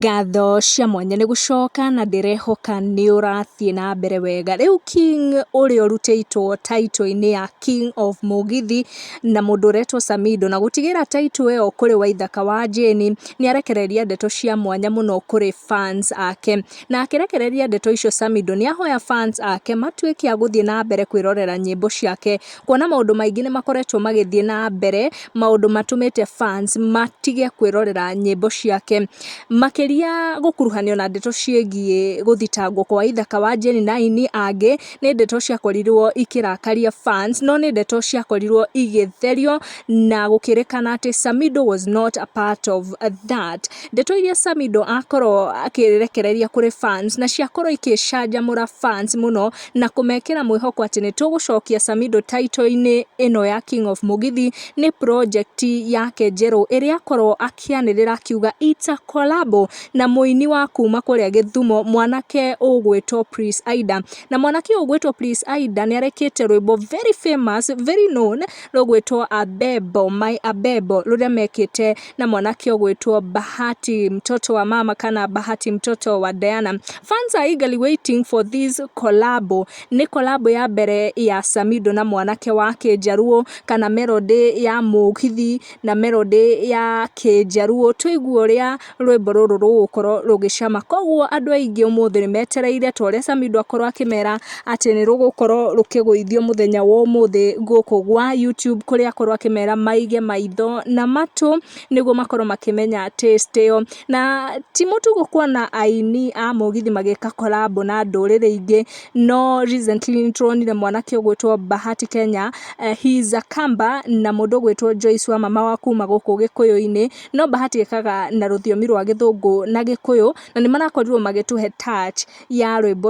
Ngatho cia mwanya nĩ gũcoka na ndĩrehoka nĩ ũrathiĩ na mbere wega. Rĩu King ũrĩa ũrutĩtwo title -inĩ ya King of Mũgithi na mũndũ ũretwo Samido, na gũtigĩra title ĩyo kũrĩ Waithaka wa Jane, nĩ arekereria ndeto cia mwanya mũno kũrĩ fans ake. Na akĩrekereria ndeto icio Samido nĩ ahoya fans ake matuĩke a gũthiĩ na mbere kwĩrorera nyĩmbo ciake. kuona maũndũ maingĩ nĩ makoretwo magĩthiĩ na mbere, maũndũ matũmĩte fans matige kwĩrorera nyĩmbo ciake. Makĩria gũkuruhanio na ndeto ciĩgiĩ gũthitangwo kwa ithaka wa Njeri na aini angĩ, nĩ ndeto ciakorirwo ikĩrakaria fans, no nĩ ndeto ciakorirwo igĩtherio na gũkĩrĩkana atĩ Samido was not a part of that. Ndeto iria Samido akorwo akĩrekereria kũrĩ fans na ciakorwo igĩcanjamũra fans mũno. na kũmekĩra mwĩhoko atĩ nĩ tũgũcokia Samido taito-inĩ ĩno ya King of Mũgithi nĩ project yake njerũ ĩrĩa akorwo akĩanĩrĩra akiuga it's a collabo na mũini wa kuma kũrĩa Gĩthumo mwanake ũgwĩtwo Prince Aida. Na mwanake ũyũ ũgwĩtwo Prince Aida nĩ arekĩte rwĩmbo very famous, very known rũgwĩtwo Abebo, my Abebo rũrĩa mekĩte na mwanake ũgwĩtwo Bahati mtoto wa mama kana Bahati mtoto wa Diana. Fans are eagerly waiting for this collabo. Nĩ collabo ya mbere ya Samido na mwanake wa Kĩjaruo kana melody ya mũgithi na melody ya Kĩjaruo. Tũigue ũrĩa rwĩmbo rũrũ rũgũkorwo rũgĩcama. Koguo andũ aingĩ ũmũthĩ nĩ metereire ta ũrĩa Samido akorwo akĩmera atĩ nĩ rũgũkorwo rũkĩgũithio mũthenya wa ũmũthĩ gũkũ gwa YouTube kũrĩa akorwo akĩmera maige maitho na matũ nĩguo makorwo makĩmenya taste ĩyo. Na ti mũtugo kuona aini a mũgithi magĩka collabo na ndũrĩrĩ ingĩ no recently nĩ tũronire mwanake ũgwĩtwo Bahati Kenya, he is a kamba na mũndũ ũgwĩtwo Joyce Wamama wa kuma gũkũ Gĩkũyũ-inĩ, no Bahati ekaga na rũthiomi rwa gĩthũngũ na gĩkũyũ na nĩ marakorirwo magĩtũhe touch. ya rwĩmbo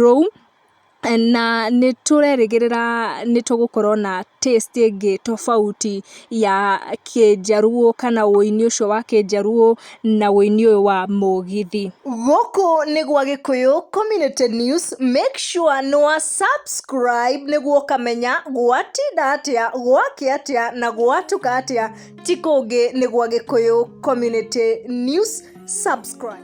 rũu, na nĩ tũrerĩgĩrĩra nĩ tũgũkorwo na taste ĩngĩ tofauti ya kĩnjaruo kana ũini ũcio wa kĩnjaruo na ũini ũyũ wa mũgithi. Gũkũ nĩ gwa Gĩkũyũ Community News, make sure nĩ wa subscribe nĩguo ũkamenya gwatinda atĩa, gwakĩa atĩa na gwatuka atĩa, ti kũngĩ nĩ gwa Gĩkũyũ Community News, subscribe.